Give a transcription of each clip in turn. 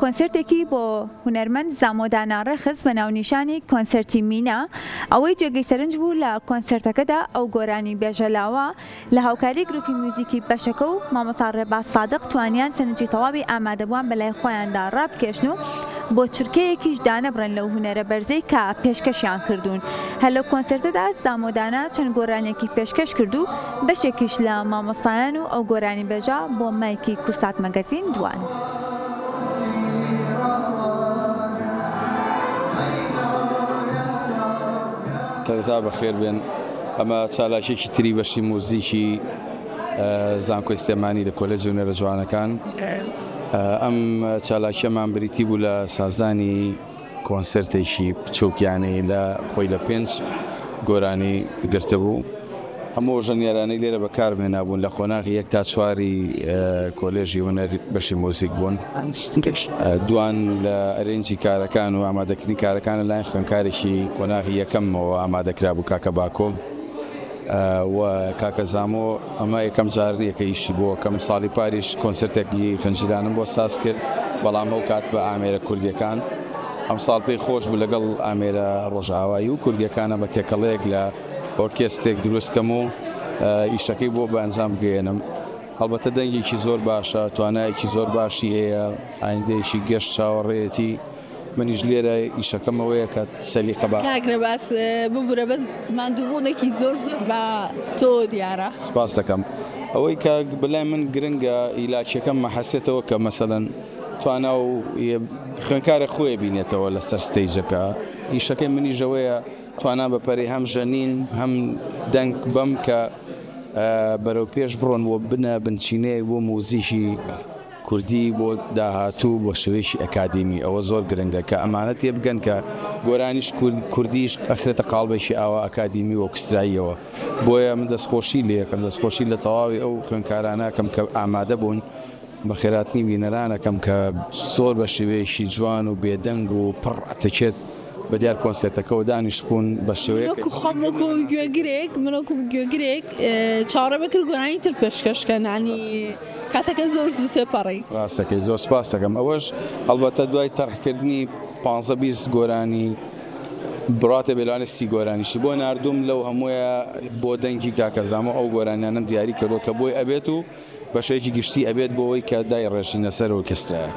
کۆنسێرتێکی بۆ هونەرمەند زامۆ دانا ڕێکخست بە ناونیشانی کۆنسێرتی مینا، ئەوەی جێگەی سەرنج بوو لە کۆنسێرتەکەدا ئەو گۆرانیبێژە لاوە لە هاوکاری گروپی میوزیکی بەشەکە و مامۆستا ڕێباز سادق توانیان سەرنجی تەواوی ئامادەبووان بەلای خۆیاندا ڕابکێشن و بۆ چرکەیەکیش دانەبڕێن لەو هونەرە بەرزەی کە پێشکەشیان کردوون هەر لەو کۆنسێرتەدا زامۆ دانا چەند گۆرانیەکی پێشکەش کرد و بەشێکیش لە مامۆستایان و ئەو گۆرانیبێژە بۆ مایکی کورسات مەگەزین دووان. سەرەتا بەخێر بێن. ئەمە چالاکیەکی تری بەشی موزیکی زانکۆی سلێمانی لە کۆلێجی هونەرە جوانەکان. ئەم چالاکیەمان بریتی بوو لە سازدانی کۆنسێرتێکی بچووکیانەی لە خۆی لە پێنج گۆرانی گرتبوو. هەموو ئەو ژەنیارانەی لێرە بەکارم هێنابوون لە قۆناغی یەک تا چواری کۆلێژی هونەر بەشی موزیک بوون. دوان لە ئەرێنجی کارەکان و ئامادەکردنی کارەکان لەلایەن خوێندکارێکی قۆناغی یەکەممەوە ئامادە کرابوو، کاکە باکۆ. و کاکە زامۆ ئەمە یەکەم جار نیە کە ئیشی بۆ ئەکەم ساڵی پاریش کۆنسرتێکی فنجیلانم بۆ ساز کرد بەڵام ئەو کات بە ئامێرە کوردیەکان ئەم ساڵ پێی خۆش بوو لەگەڵ ئامێرە ڕۆژئاوایی و کوردیەکانە بە تێکەڵەیەک لە ئۆرکێستێک دروست کەم و ئیشەکەی بۆ بە ئەنجام بگەیەنم هەڵبەتە دەنگێکی زۆر باشە توانایەکی زۆر باشی هەیە ئایندەیەکی گەش چاوەڕێیەتی. منیش لێرە ئیشەکەم ئەوەیە کە سەلیقە باش کاک نەباس ببورە بەس ماندووبوونێکی زۆر زۆر بە تۆ دیارە سپاس دەکەم ئەوەی کە بەلای من گرنگە ئیلاکیەکەم مەحەسێتەوە کە مەسەلەن توانا و خوێنکارە خۆی بینێتەوە لەسەر ستەیجەکە ئیشەکەی منی ژەوەیە توانا بە پەری هەم ژەنین هەم دەنگ بەم کە بەرەو پێش بڕۆن بۆ بنە بنچینەیەک بۆ موزیکی کوردی بۆ داهاتوو بە شێوەیەکی ئەکادیمی ئەوە زۆر گرنگە کە ئەمانە تێبگەن کە گۆرانیش کوردیش ئەخرێتە قاڵبێکی ئاوا ئەکادیمی و ئۆکستراییەوە بۆیە من دەستخۆشی لێکەم دەستخۆشی لە تەواوی ئەو خوێنکارانەکەم کە ئامادە بوون بە خێراتنی بینەرانەکەم کە زۆر بە شێوەیەکی جوان و بێدەنگ و پڕ ئەتەکێت بە دیار کۆنسێرتەکەوە دانیشتبوون بە شێوەیەک خۆم وەکو گوێگرێک من وەکو گوێگرێک چاوەڕێم ئەکرد گۆرانی تر پێشکەش کەن یانی. کاتەکە زۆر زوو تێپەڕی. ڕاست دەکەی زۆر سپاست دەکەم ئەوەش ئەڵبەتە دوای تەرح کردنی پانزە بیست گۆرانی بڕاتێ بێ لەوانێ سی گۆرانیشی بۆ ناردووم لەو هەموویە بۆ دەنگی کاکە زامۆ ئەو گۆرانیانەم دیاری کردووە کە بۆی ئەبێت و بەشێکی گشتی ئەبێت بۆ ئەوەی کە دایڕێژینە سەر ئۆرکێسترایەک.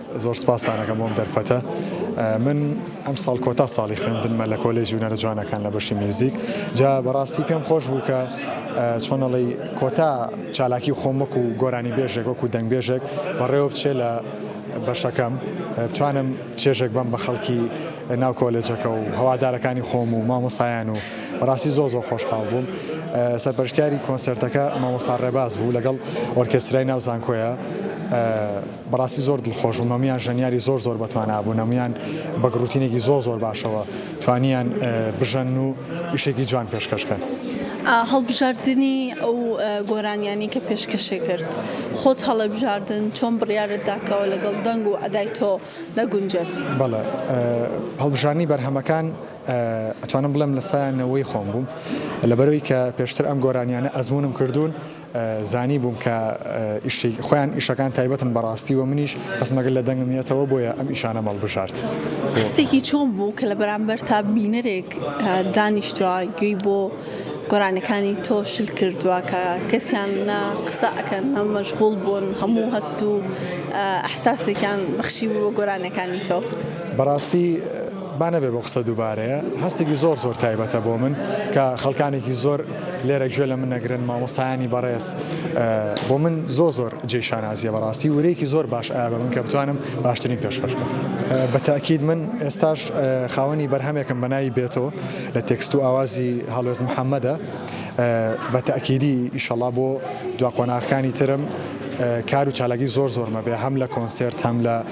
زۆر سپاستان ئەکەم بۆم دەرفەتە من ئەم ساڵ کۆتا ساڵی خوێندنمە لە کۆلێژی هونەرە جوانەکان لە بەشی میوزیک جا بەڕاستی پێم خۆش بوو کە چۆنەڵی کۆتا چالاکی خۆمەک و گۆرانی بێژێک وەکو دەنگبێژێک بەڕێوە بچێ لە بەشەکەم بتوانم چێژێک بم بە خەڵکی ناو کۆلێجەکە و هەوادارەکانی خۆم و مامۆسایان و بەڕاستی زۆ زۆ خۆشحاڵ بووم سەرپەرشتیاری کۆنسرتەکە مامۆسا ڕێباز بوو لەگەڵ ئۆرکسترای ناو زانکۆیە بەڕاستی زۆر دڵخۆش بووم هەموویان ژەنیاری زۆر زۆر بەتوانا بوون هەموویان بەگڕوتینێکی زۆر زۆر باشەوە توانیان بژەنن و ئیشێکی جوان پێشکەش کەن. هەڵبژاردنی ئەو گۆرانیانی کە پێشکەشی کرد خۆت هەڵەبژاردن چۆن بڕیارت داکەوە لەگەڵ دەنگ و ئەدای تۆ دەگونجێت بەڵێ هەڵبژارنی بەرهەمەکان ئەتوانم بڵێم لە سایانەوەی خۆم بووم لەبەرەوەی کە پێشتر ئەم گۆرانیانە ئەزمونم کردوون زانیبووم کە ئیشی خۆیان ئیشەکان تایبەتن بەڕاستی و منیش هەستمە گەر لە دەنگم یەتەوە بۆیە ئەم ئیشانەم هەڵبژارد. هەستێکی چۆن بوو کە لە بەرامبەرتا بینەرێک دانیشتوە گوێی بۆ گۆرانیەکانی تۆ شل کردوە کە کەسیان نە قسە ئەکەن نە مەشغوڵ بوون هەموو هەست و ئەحساسێکیان بەخشیبوو بە گۆرانیەکانی تۆ؟ بەڕاستی با نەبێ بۆ قسە دووبارەیە. هەستێکی زۆر زۆر تایبەتە بۆ من کە خەڵکانێکی زۆر لێرە گوێ لە من نەگرن مامۆستایانی بەڕێز بۆ من زۆر زۆر جێی شانازیە بەڕاستی ورەیەکی زۆر باش ئایا بە من کە بتوانم باشترین پێشکەش بکەم بە تاکید من ئێستاش خاوەنی بەرهەمێکم بە ناوی بێتۆ لە تێکست و ئاوازی هەڵوێست محەمەدە بە تاکیدی ئیشەڵا بۆ دوا قۆناغەکانی ترم کار و چالاکی زۆر زۆرمە بێ هەم لە کۆنسێرت هەم لە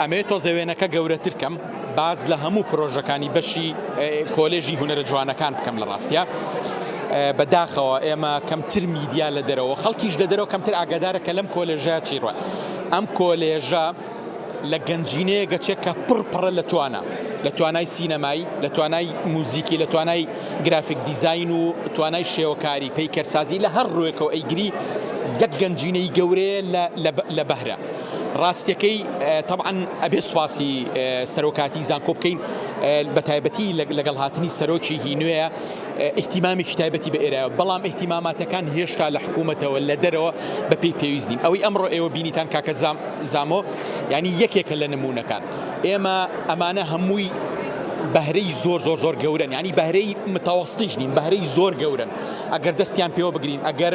ئەمەوێت تۆزێ وێنەکە گەورەتر کەم باس لە هەموو پرۆژەکانی بەشی کۆلێژی هونەرە جوانەکان بکەم لە ڕاستیا بە داخەوە ئێمە کەمتر میدیا لە دەرەوە خەڵکیش لە دەرەوە کەمتر ئاگادارە کە لەم کۆلێژە چی ڕە ئەم کۆلێژە لە گەنجینەیە گەچێک کە پڕ پڕە لە توانە لە توانای سینەمایی لە توانای موزیکی لە توانای گرافیک دیزین و توانای شێوەکاری پەیکەرسازی لە هەر ڕوێکەوە ئەیگری یەک گەنجینەی گەورەیە لە بەهرە ڕاستەکەی تەبعەن ئەبێ سوپاسی سەرۆکاتی زانکۆ بکەین بە تایبەتی لەگەڵ هاتنی سەرۆکیی نوێە ئیحتیمامێکی تایبەتی بە ئێرایە بەڵام ئیحتیماماتەکان هێشتا لە حکوومەتەوە لە دەرەوە بە پێی پێویست نین ئەوەی ئەمڕۆ ئێوە بینیتان کاکە زام زامۆ ینی یەکێکە لە نمونونەکان ئێمە ئەمانە هەمووی بەهرەی زۆر زۆر زۆر گەورن ینی بەهرەی متەوەستیش نین بەهرەی زۆر گەورن ئەگەر دەستیان پێوە بگرین ئەگەر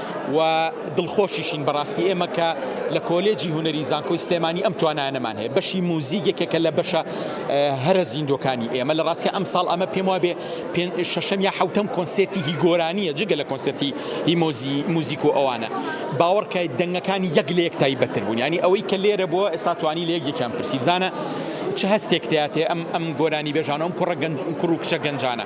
و دڵخۆشیشین بەڕاستی ئێمە کە لە کۆلێجی هونەری زانکۆی سلێمانی ئەم توانانەمان هەیە بەشی موزیک یەکێکە لە بەشە هەرە زیندۆکانی ئێمە لە ڕاستە ئەم ساڵ ئەمە پێم وابێ شەشەم یا حوتەم کۆنسرتی هی گۆرانیە جگە لە کۆنسرتی هی مۆزی موزیک و ئەوانە باوەڕکای دەنگەکانی یەک لە یەک تایبەتتر بوون ینی ئەوەی کە لێرە بووە ئێستا توانی لە یەکێکیان پرسی بزانە چ هەستێک تاتێ ئەم ئەم گۆرانی بێژانەوەم کوڕە گەنج کوڕ و کچە گەنجانە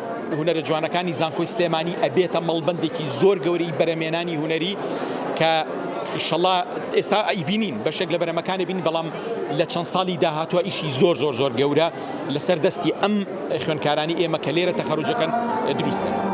هونەرە جوانەکانی زانکۆی سلێمانی ئەبێتە مەڵبەندێکی زۆر گەورەی بەرەمێنانی هونەری کە ئیشەڵا ئێستا ئەیبینین بەشێک لە بەرەمەکانی بین بەڵام لە چەند ساڵی داهاتوە ئیشی زۆر زۆر زۆر گەورە لەسەر دەستی ئەم خوێنکارانی ئێمە کە لێرە تەخەرجەکەن دروست دەکەن.